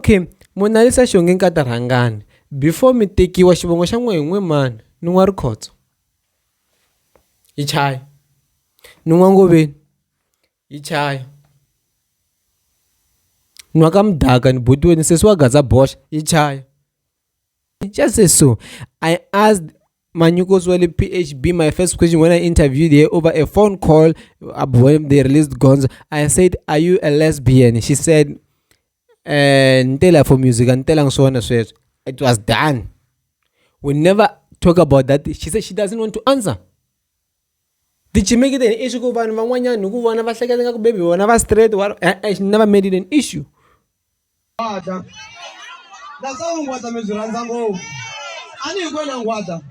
Okay, Monalisa Xonge Nkata rhangani before mi tekiwa xivongo xa n'we hi n'we mani ni n'wa rikhotso hi chayi ni n'wa ngoveni hi chayi nwa ka mudaka ni buti wena sesi wa gaza boxa hi chayi just say so i asked Manyuko's Wale PHB, my first question when I interviewed her over a phone call uh, when they released Gonzo, I said, Are you a lesbian? She said, ni te la for music a ni telanga swona sweswo it was done we never talk about that she said she doesn't want to answer tichimeketeni i swi ku vanhu van'wanyana hi ku vona va hleketa nga ku baby vona va straight wa e-e she never made it an issue Ngwada. That's how Ngwada means Ranzango. Ani Ngwena Ngwada.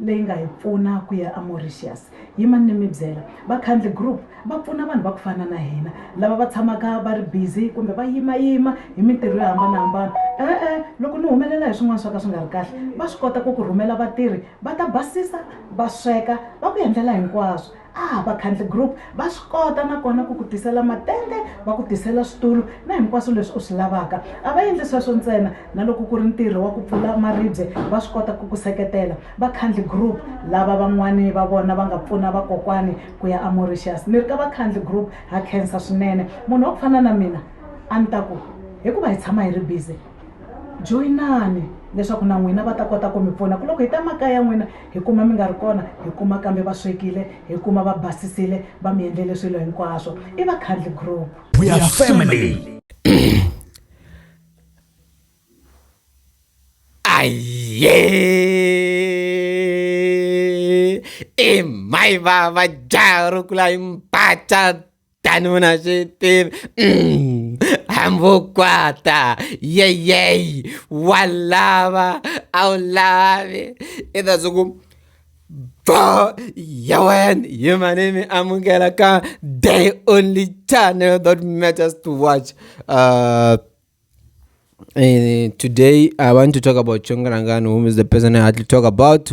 leyi nga hi pfuna ku ya amauritius yimani ni mi byela vakhandli group va pfuna vanhu va ku fana na hina lava va tshamaka va ri busy kumbe va yimayima hi mintirho yo hambanahambana e-e loko ni humelela hi swin'wana swo ka swi nga ri kahle va swi kota ku ku rhumela vatirhi va ta basisa va sweka va ku endlela hinkwaswo Ah, vakhandli group va swi kota nakona ku ku tisela matende va ku tisela switulu na hinkwaswo leswi u swi lavaka a va endli sweswo ntsena na loko ku ri ntirho wa ku pfula maribye va swi kota ku ku seketela vakhandli group lava van'wani va vona va nga pfuna vakokwani ku ya amoritius ni ri ka vakhandli group ha khensa swinene munhu wa ku fana na mina a ni ta ku hikuva hi tshama hi ri busy joyinani leswaku na n'wina va ta kota ku mi pfuna ku loko hi ta makaya n'wina hi kuma mi nga ri kona hi kuma kambe va swekile hi kuma va basisile va mi endlele swilo hinkwaswo i vakhandli group we are family aye e mai vava jaha ro kula hi mpata Tanuna swi tivi mm, hambukwata yeyeyi wa lava a wu lavi i ta swi ku bo ya wena hi manimi amukela ka day only channel that matters to watch uh, uh, today i want to talk about chongarangani whom is the person i had to talk about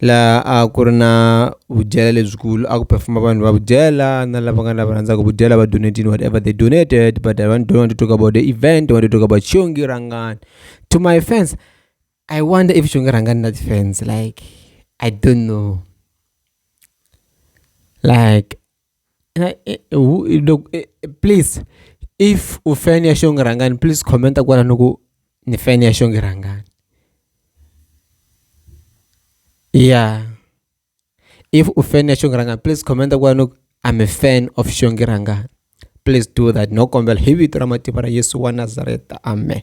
laha a ku ri na vudyelo lebyikulu a ku perform-a vanhu va vudyela na lava nga na va rhandzaka vudyela va donetile whatever they donated but I want to talk about the event I want to talk about Xiongi Rhangani to my fans I wonder if Xiongi Rhangani na ti-fans like I don't know like Please if u fan ya xonga rhangani please comment kwalano ku ni fan ya xonga rhangani ya if u fan ya xonga rhangani please comment kwalano ku I'm a fan of xonga rhangani please do that no kombela hi vito ra matimba ra Yesu wa Nazareta amen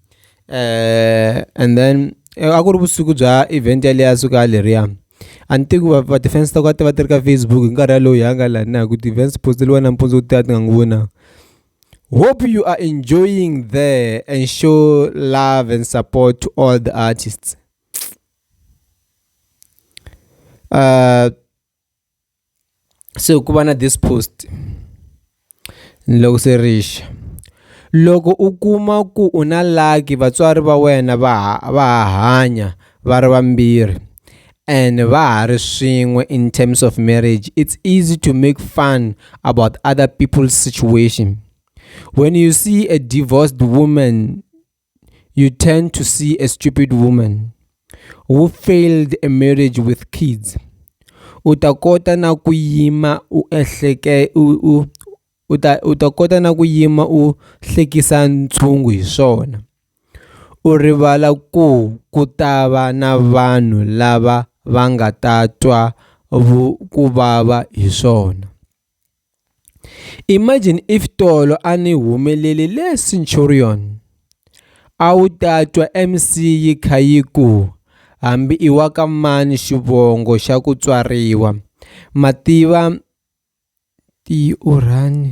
and then a ku ri vusiku bya event yaliya ya siku yaleriya a ni tivi ku va ti-fans ta kona a ti va ti ri ka Facebook hi nkarhi wolowo hi ya nga la na hi ku ti-events post-eliwa nampundzu ti ya ti nga n'wi voni na hope you are enjoying there and show love and support to all the artists uh se ku va na this post ni loko se ri xa loko u kuma ku u na lucky vatswari va wena va ha va ha hanya va ri vambirhi and va ha ri swin'we in terms of marriage it's easy to make fun about other people's situation when you see a divorced woman you tend to see a stupid woman who failed a marriage with kids u ta kota na ku yima u ehleke u u u ta u ta kota na ku yima u hlekisa ntshungu hi swona u rivala ku ku ta va na vanhu lava va nga ta twa ku vava hi swona Imagine if tolo a ni humeleli le Centurion, a wu ta twa MEC yi kha yi ku, hambi i wa ka mani xivongo xa ku tswariwa, Mativa-Tiurani.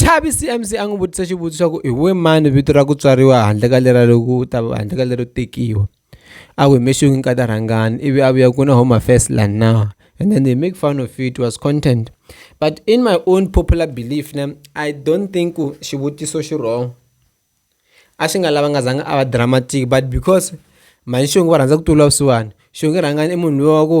Chavi C_M_C a n'wi vutisa xivutiso xa ku hi wena mani vito ra ku tswariwa handle ka lera loku ta va handle ka lero tekiwa a ku hi maxongi nkata rhangani ivi a vuya ku na home affairs la na and then they make fun of it was content but in my own popular belief ne I don't think ku xivutiso xi wrong a xi nga lava nga zanga a va dramatic but because mhani xongi va rhandza ku tlula vusiwana xongi rhangani i munhu luya wa ku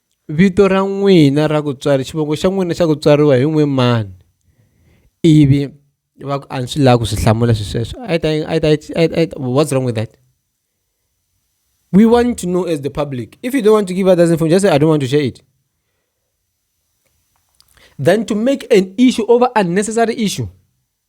Vito ra n'wina ra ku tswari xivongo xa n'wina xa ku tswariwa hi n'we mani ivi va ku a ni swi lavi ku swi hlamula swi sweswo a yi ta a yi ta a yi ta what's wrong with that we want to know as the public if you don't want to give others information just say I don't want to share it than to make an issue over unnecessary issue.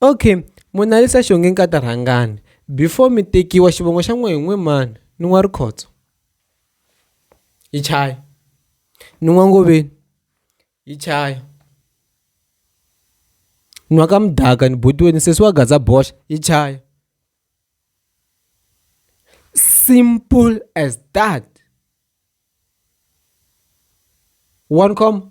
Okay, Monalisa Xonge Nkata rhangani before mi tekiwa xivongo xa n'we hi n'we mani ni n'wa Rikhotso hi chaya ni n'wa Ngoveni hi chaya ni n'wa ka Mudaka ni buti wena sesi wa Gaza boxa hi chaya simple as that one comma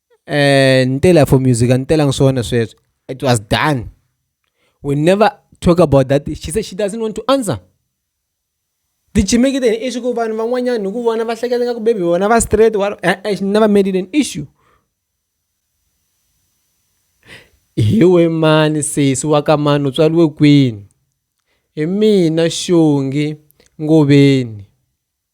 Ntela for music a ni telanga swona sweswo it was done we never talk about that she said she doesn't want to answer ti chimekile hi i swi ku vanhu van'wanyana hi ku vona va hleketa nga ku maybe vona va straight wa e-e she never made it an issue hi we mani sesi wa ka mani u tswariwe kwini hi mina xongi Ngoveni.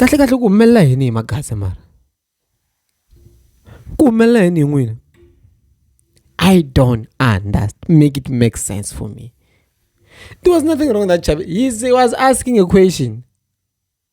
kahle kahle ku humelela yini hi magasi mara ku humelela yini hi n'wina i don't understand make it make sense for me there was nothing wrong with that chap he was asking a question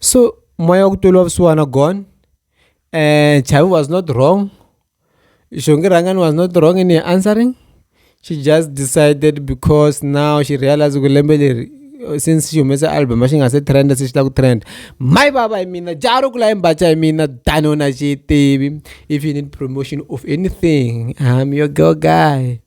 So moya wa ku tiva vusiwana gone Chavi was not wrong, Xongi Rhangani was not wrong in her answering she just decided because now she realize ku lembe leri since xi humese album xi nga se trend se xi lava ku trend my vava hi mina jaha ro kula hi mbatya hi mina tano na xi tivi if you need promotion of anything I'm your girl guy.